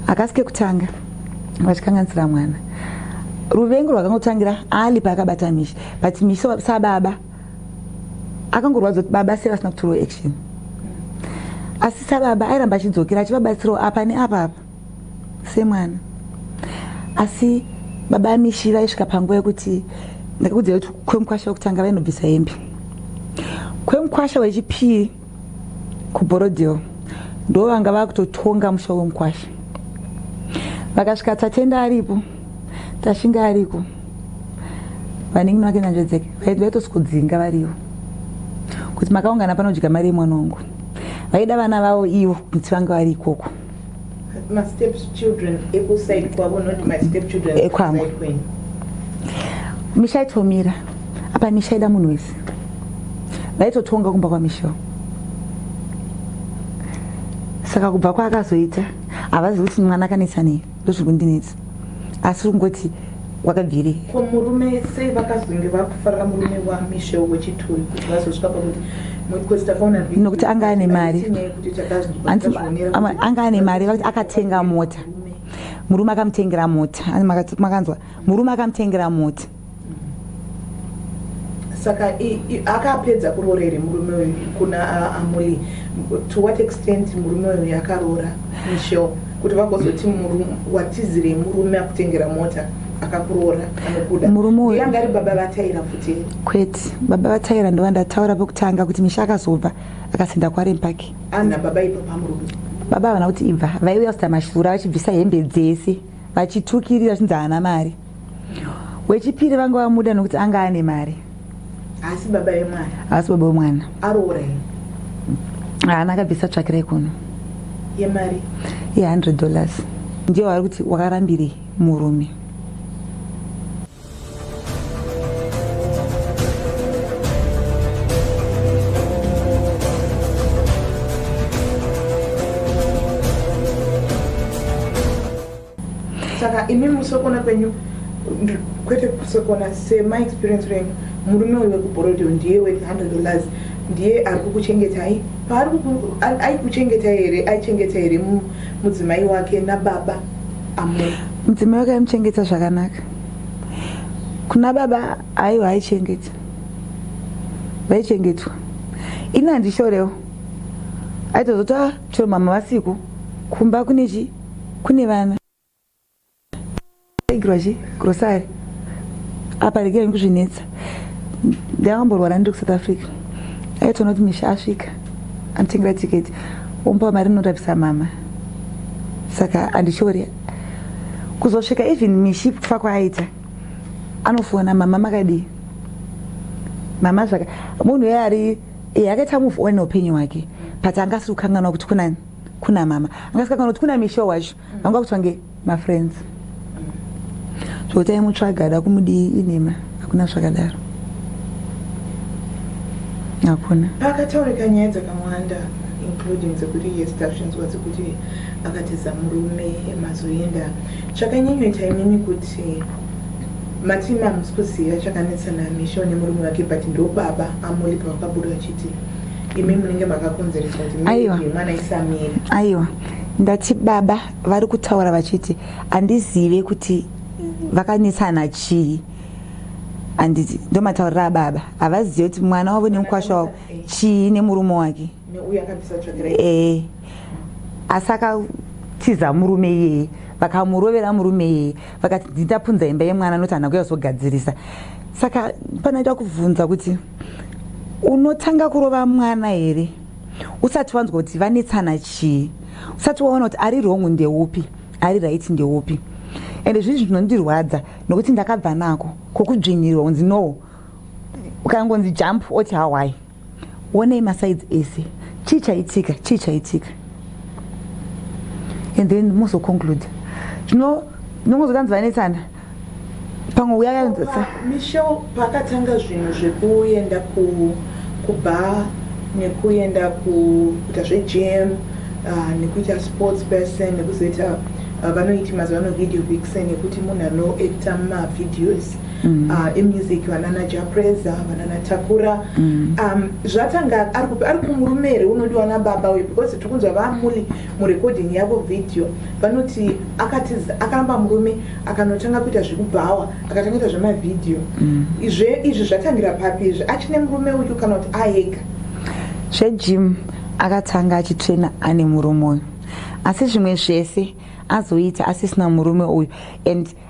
hakasi kekutanga vachikanganisira mwana ruvengo rwakangotangira ali paakabata mishi but mishi sababa akangorwadza kuti baba sei vasina kutorwa action asi sababa airamba achidzokera achivabatsirawo apa neapa apa semwana asi baba amishi vaisvika panguva yekuti ndakakudzira kuti kwemukwasha wekutanga vainobvisa hembe kwemukwasha wechipiri kuborodhill ndo vanga vakutotonga musha wemukwasha vakasvika tatenda aripo tashinga ariko vaningi vake nanzvedzeke vaitosvikudzinga varivo kuti makaungana panodya mari yemwana wangu vaida vana vavo ivo kuti vange vari ikoko ekwangu misha itomira apa misha ida munhu wese vaitotonga kumba kwamishawo saka kubva kwaakazoita havazi kuti mwana akanetsa nei ndozviri kundinetsa asi ungoti wakabviri ko murume sei vakazonge vakufarira murume wamishe wechituri kuti vazosvika pakuti nokuti anga ane mari anga ane mari vakuti akatenga mota murume akamutengera mota makanzwa murume akamutengera mota saka akapedza kuroora here murume uyu kuna amuli to what extent murume uyu akaroora misho kuti vagozoti watizirei murume akutengera mota akakuroora anokuda murume uyu anga ari baba vataira futi kwete baba vataira ndova ndataura pekutanga kuti misha akazobva akasenda kwarempaki ana baba ipa pamurume baba havana kuti ibva vaiuya kuita mashura vachibvisa hembe dzese vachitukirira vachinzi haana mari wechipiri vanga vamuda nokuti anga ane mari asi baba vemwana asi baba vemwana aroora here haana akabvisa tsvakirai kuno yemari ye100 dollars ndiyo vari kuti wakarambirei murume saka imi musokona kwenyu kwete kusokona sema experience renyu murume uyu wekubhorodeo ndiye we 100 dollars ndiye ari kukuchengetai paari aikuchengetai here aichengeta here mudzimai wake nababa amor mudzimai wake aimuchengeta zvakanaka kuna baba aiwa haichengeta vaichengetwa ini handishorewo aitozoti ah, chero mama vasiku kumba kune chii kune vana igirwa chi grocery apa regai ndikuzvinetsa ndakamborwara ndiri kusouth africa aitoona kuti misha asvika anditengera tiketi omupa mari norapisa mama saka andichori kuzosvika even mishi kufa kwaaita anofona mama makadii mama zvaka munhu uye ari akaita move on upenyu hwake but anga asiri kukanganwa kuti kunani kuna mama angasika kana kuti kuna misho wacho vanga kuti vange mafriends zvekuti aimutsvaga ada kumudii inhema hakuna zvakadaro hakuna pakataurika nyaya dzakamwanda including dzekuti yes tazvinzwa dzekuti akatiza murume mazoenda chakanyanyoita imimi kuti matima hamusi kuziva chakanetsana misho nemurume wake but ndobaba amuripa vakabuda vachiti imi munenge makakonzeresa kuti mwana isamira aiwa ndati baba vari kutaura vachiti handizive kuti vakanetsana chii handiti ndomataurira ababa havazive kuti mwana wavo nemukwasha wavo chii nemurume wake ee asi akatiza murume iyeye vakamurovera murume iyeye vakati nditapunza imba yemwana noti hana kuya kuzogadzirisa saka panoita kubvunza kuti unotanga kurova mwana here usati wanzwa kuti vanetsana chii usati waona kuti ari wrong ndeupi ari right ndeupi ende zvii zvinondirwadza nokuti ndakabva nako kokudzvinyirwa unzi no ukangonzi jump oti hawai wonei masaids ese chii chaitika chii chaitika and then mozoconclude zvino nongozokanzi vanetsana pamwe uya yainzese michel pakatanga zvinhu zvekuenda kubar nekuenda kuita zvegym ah, nekuita sports person nekuzoita ah, vanoiti mazuva ano video vixen nekuti munhu anoacta mumavideos mm. ah, emusic vanana japreza vanana takura mm. um, zvatanga ari kumurume here unodiwa nababa uyu because tiri kunzwa vamuli murecording yavo video vanoti akatiza akaramba murume akanotanga kuita zvekubhawa akatanga kuita zvemavhidhiyo mm. izve izvi zvatangira papi izvi achine murume uyu kana kuti aega zvejim akatanga achitrena ane murume uyu asi zvimwe zvese azoita asisina murume uyu and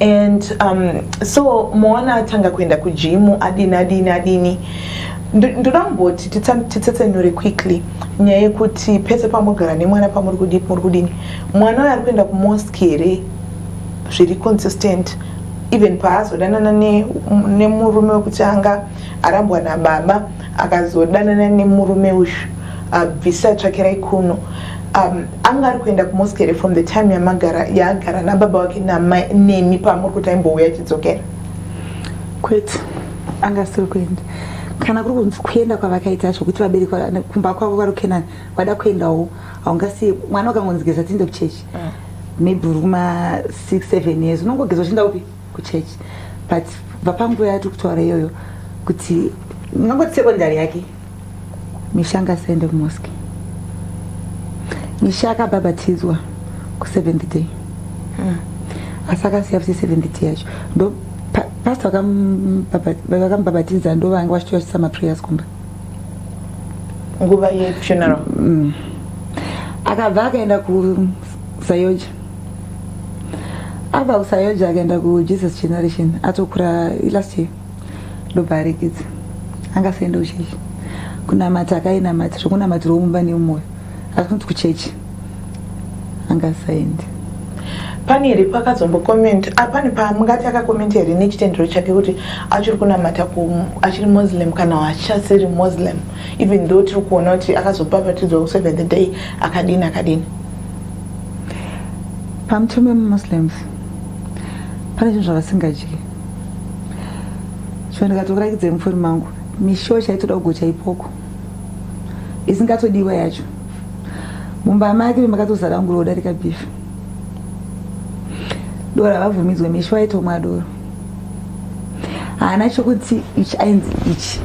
and um, so moona atanga kuenda kujimu adini adini adini ndoda kumboti titsetsenure quickly nyaya yekuti pese pamogara nemwana pamuri kudipi muri kudini mwana uyo ari kuenda kumosque here zviri consistent even paazodanana nemurume ne wekuti anga arambwa nababa akazodanana nemurume uyu abvisa tsvakirai kuno Um, anga ari kuenda kumosque here from the time yamagara yaagara nababa wake namai nemi paamuri kuti aimbouya achidzokera kwete anga asiri kuenda kana kuri kunzi kuenda kwavakaita zvokuti vabereki kumba kwavo vari kukenani vada kuendawo haungasiye mwana ukangonzi geza tiinde kuchechi mm. maybe uri kuma six seven years unongogeza uchienda kupi kuchechi but bva panguva yatiri kutaura iyoyo kuti ngangoti sekondari yake Misha ngasaende kumosque. Misha akabhabhatidzwa kuseventh day hmm. asi akasiya kuti seventh day yacho ndo pasta vakamubhabhatidza ndo vange vachitoyachisa maprayers kumba nguva yefuneral hmm. akabva akaenda kusayoja abva kusayoja akaenda kujesus generation atokura last year ndoparekidza angasaenda kuchechi kunamata akainamata zvokunamatirwa mumba neumwoyo asi kunzi kuchechi angasaendi pane here pakazombokomenti ah, pane pamungati akakomenti here nechitendero chake kuti achiri kunamata achiri muslim kana achasiri muslim even though tiri kuona kuti akazopapatidzwa kuseven the day akadini akadini pamutemo wemumuslims pane zvinhu zvavasingadyi so ndikatokurakidza mufoni mangu mishowo chaitoda kugocha ipoko isingatodiwa yacho mumba make memakatozara nguro udarika bifi doro havabvumidzwe mishowo aitomwa doro haana chokuti ichi ainzi ichi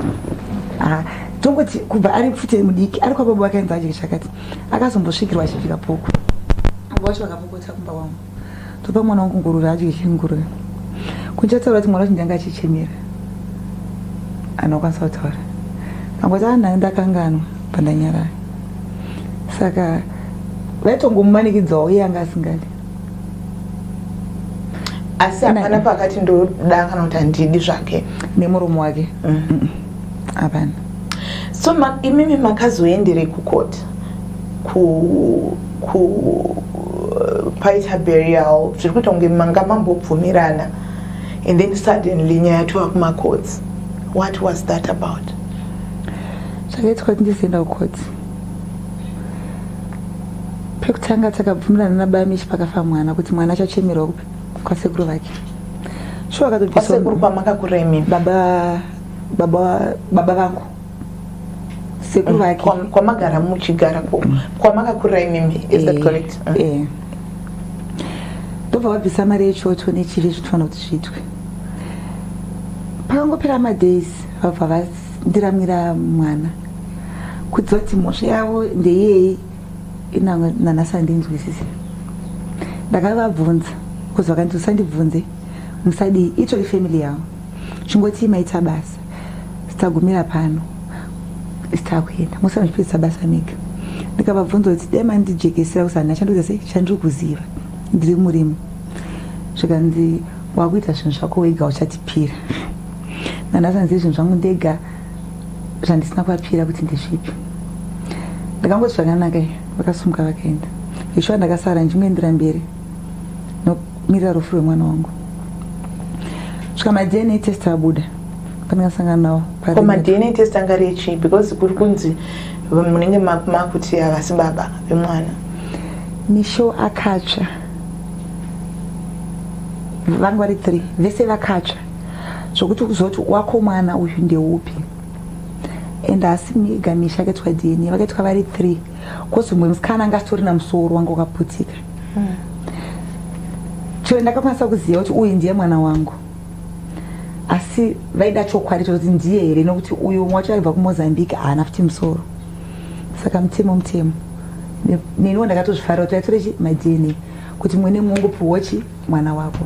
tongoti kubva ari pfute mudiki ari kwababa vakainzi aje chakati akazombosvikirwa achifika poko abo vacho vakapokota kumba wangu topa mwana wangu nguruve adye chenguruve kunze ataura kuti mwana wacho ndanga achichemera anokwanisa kutaura angoti anhai ah, ndakanganwa pandanyarara saka vaitongomumanikidzawo iye anga asingadi asi hapana pakati ndoda kana kuti handidi zvake nemurume wake mm. hapana so imimi makazoenderei kukoti ku ku paita burial zviri kuita kunge manga mambobvumirana and then suddenly nyaya yatova kumacourts what was that about zvakaitwa kuti ndizoenda kucourts pekutanga takabvumirana nabamishi pakafa mwana kuti mwana achachemerwa kupi kwasekuru vake shuwa akatobisa baba baba vangu sekuru vake kwamagara muchigara mm. kwamakakurira imimi is that eh, correct mm. eh. ndobva vabvisa mari yechoto nechivi zvitoona kuti zviitwe pakangopera madays vabva vandiramira mwana kudziva kuti mhosva yavo ndeyei nanasandinzwisise ndakavabvunza kuzi vakanzi usandibvunze musadii itori family yavo chingoti maita basa Tagumira pano takuenda musanzvipisa basa mega ndikavabvunza kuti dai mandijekesera kusana chandoita sei chandiri kuziva ndiri murimo zvikanzi wakuita zvinhu zvako wega uchatipira nanhasi hanzi zvinhu zvangu ndega zvandisina kuvapira kuti ndezvipi ndakangoti zvakanaka vakasumuka vakaenda ishuwa ndakasara ndichingoendera mberi mirira rufu rwemwana wangu svika madna test abuda pandingasangana nawo ko madna test anga ari echii because kuri kunzi munenge makuti havasi baba vemwana misho akatsva vanga vari three vese vakatsva zvokuti kuzoti wako mwana uyu ndeupi and haasi mega misha akaitwa dna vakaitwa vari three Kozi mwe musikana anga asitori na musoro wanga wakaputika. Mm. Chero ndakakwanisa kuziva kuti uyu ndiye mwana wangu. Asi vaida chokwadi chekuti ndiye here nokuti uyu umwe wacho aibva kuMozambique haana futi musoro. Saka mutemo mutemo. Neniwo ndakatozvifarira kuti vaitore chi ma DNA kuti mwene mungu puwochi mwana wako.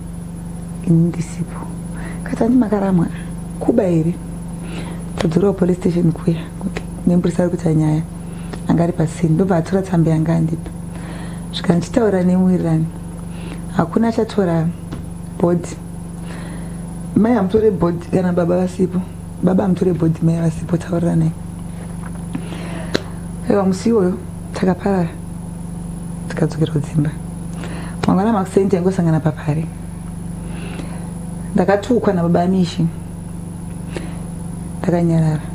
ini ndisipo katani makaramwa kuba here todzorawo police station kuya nemburisa ari kuita nyaya anga ari pasini ndobva atora tsamba yanga andipa svika ndichitaura nemuwirirani hakuna achatora bhodhi mai amutore bhodhi kana baba vasipo baba amutore bhodhi mai vasipo tauriranai aiwa musi iwoyo takaparara tikadzokera kudzimba mangwana makuseni taingosangana papari ndakatukwa nababa amishi ndakanyarara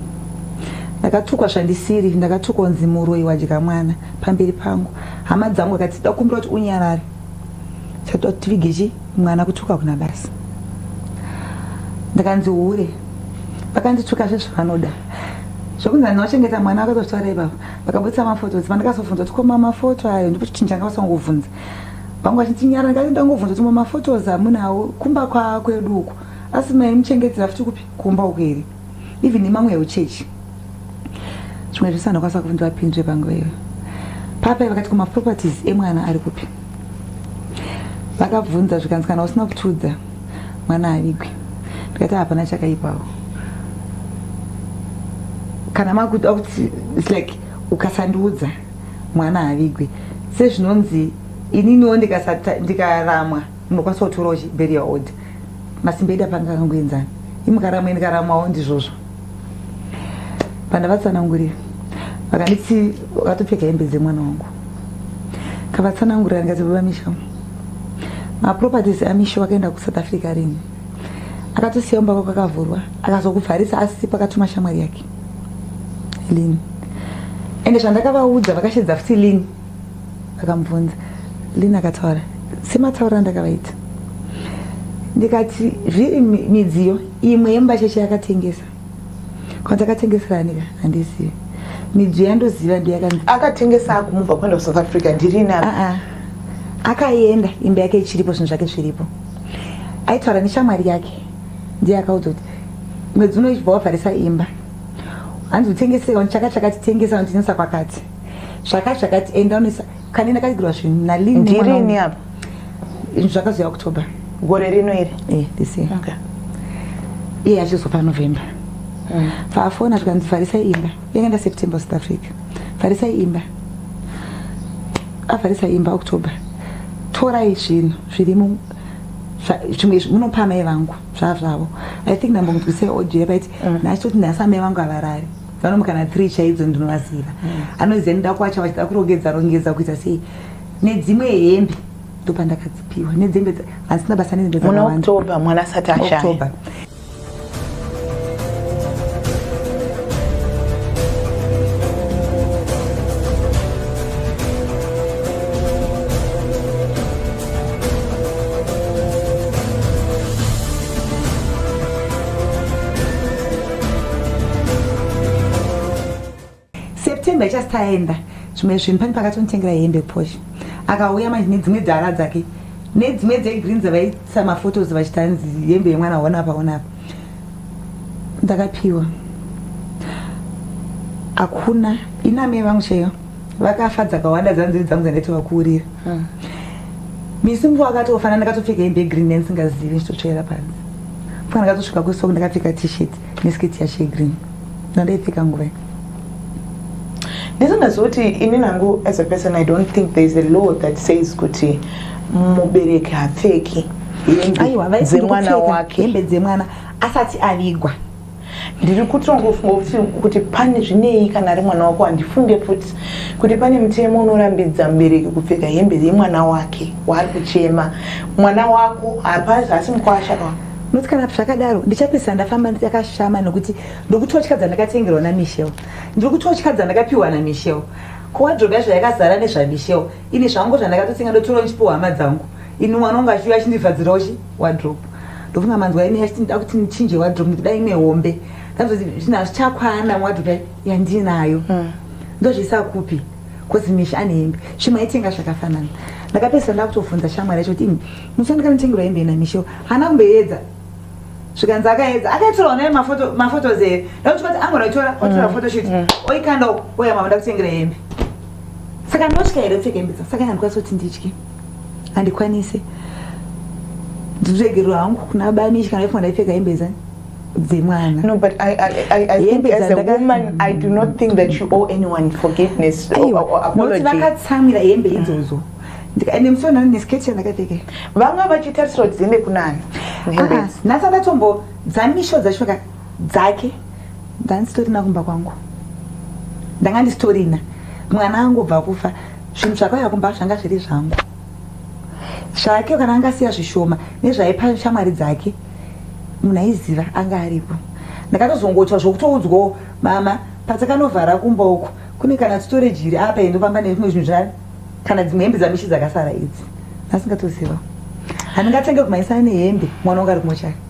ndakatukwa zvandisiri ndakatukwa kunzi muroyi wadya mwana pamberi pangu hama dzangu akati dakumbira kuti unyarare chatoda kuti tivige chi mwana kutuka kuna basa ndakanzi hure vakandituka zvezvavanoda zvokunzi vanhu vachengeta mwana vakatotaura ipapo vakabudisa mafotos pandikazofunza kuti koma mafoto ayo ndipo chichinja anga vasangobvunza vangu vachitinyara ndikati ndangobvunza kuti mamafotos hamunawo kumba kwakwedu uku asi mai muchengedzera futi kupi kumba uku here even imamwe yeuchechi zvimwe zvese andakwanisa kuti ndivapindure panguva iyo papai vakati kumaproperties emwana ari kupi vakabvunza zvikanzi kana usina kutiudza mwana avigwe ndikati hapana chakaipawo kana makuda kuti its like ukasandiudza mwana avigwe sezvinonzi ininiwo ndikaramwa munokwanisa kutorawo berial order masimba edu apanga akangoenzana imukaramwa ndikaramwawo ndizvozvo pandavatsanangurira vakanditi vakatopfeka hembe dzemwana wangu kavatsanangurira ndikati baba misha maproperties amisha wakaenda kusouth africa rini akatosiya umba kwako akavhurwa akazokuvharisa asi pakatuma shamwari yake lini ende zvandakavaudza vakashedza futi lini akamubvunza lina akataura semataura andakavaita ndikati zviri midziyo imwe yemubacheshe yakatengesa kana takatengesera anika handizivi midziyo yandoziva ndiyakanzi akatengesa akumubva kuenda kusouth africa ndirina ah, ah. akaenda imba yake ichiripo zvinhu zvake zviripo aitaura neshamwari yake ndiye akaudza kuti mwedzi unoibva wavharisa imba hanzi utengesewa ndichaka chakatitengesa notengesa kwakati zvaka zvakati enda unoisa kani ndakagirwa zvinhu naline ndirini apa zvakazoya october gore rino iri eh this year okay iye achizopa november mm. faafona zvikanzi farisai imba yanga nda september south africa farisai imba afarisa imba october torai zvinhu zviri zvimwe munopa amai vangu zvava zvavo i think ndambonzwisei audio yapaiti mm. nachitoti nhasi amai vangu havarari vanomu kana three chaidzo ndinovaziva mm. anoziva ndida kwacha vachida kurongedza rongedza kuita sei nedzimwe hembe ndopandakadzipiwa nedzembe vasina basa nedzembe dzakawanda mwana asati ashaya september ichasi taenda zvimwe zvinhu pane pakatonitengera hembe posh akauya manje nedzimwe dzara dzake nedzimwe dzegreen dzavaisa maphotos vachitanzi hembe yemwana hona paona apa ndakapiwa hakuna inamee vangu chaiyo vakafa dzakawanda dzanziri dzangu dzandaiti vakuurira hmm. misi mvu akatofana ndakatopfeka hembe yegreen yandisingazivi ndichitotsvaira panzi fana ndakatosvika kwesoku ndakapfeka tshirt nesketi yacho yegreen ndandaipfeka nguva i ndizondaziva kuti ini nangu as a person i don't think there is a law that says kuti mubereki hapfeki hembe dzemwana wake hembe dzemwana asati avigwa ndiri kutongofunga kuti kuti pane zvinei kana ari mwana wako handifunge futi kuti pane mutemo unorambidza mubereki kupfeka hembe yemwana wake waari kuchema mwana wako hapasi hasi mukwasha ka noti kana zvakadaro ndichapedzisa ndafamba ndakashama nokuti ndokutotya dzandakatengerwa namichel ndiri kutotya dzandakapiwa namichel kowadrobe yacho yakazara nezvamichel Ini zvangu zvandakatotsenga ndotora ndichipiwa hama dzangu. Ini mwana wangu achiuya achindivhadzirawo chi wardrobe. Ndofunga manzwa ini achiti ndida kuti ndichinje wardrobe nekuti dai ine hombe. Ndazoti zvinhu hazvichakwana wardrobe yandinayo. Hmm. Ndozviisa kupi? Cause Misha ane hembe. Shema aitenga zvakafanana. Ndakapesa ndakutobvunza shamwari yacho kuti Musha ndikanotengerwa hembe ina Misha. Hana kumbeedza zvikanzi akaedza akaitirawo naye mafotos here ndakuti kwati angonotora otora mm. photoshoot mm. oikanda uko oya mama ndakutengera hembe saka ndinotya here pfeka hembe dzangu saka handikwanisa kuti nditye handikwanise ndinoregerwa hangu kuna bani kana ifanira ipfeka hembe dzani dzemwana no but i, I, I, I think as a woman i do not think that you owe anyone forgiveness or, or apology vakatsamwira hembe idzodzo mm. ende musi wanhani nesketi yandakapfeka vanga vachitarisira kuti dziende kunani ah, nhasi andatombo dzamisho dzacho dzake ndanisitorina kumba kwangu ndanga ndisitorina mwana angobva kufa zvinhu zvakauya kumba zvanga zviri zvangu zvake kana anga asiya zvishoma nezvaipa shamwari dzake munhu aiziva anga aripo ndakatozongotya zvokutoudzwawo mama patakanovhara kumba uku kune kana storage iri apa endofamba nezvimwe zvinhu zva kana dzimwe hembe dzamishi dzakasara idzi asingatoziva handingatenge kumaisana nehembe mwana wanga ari kumochari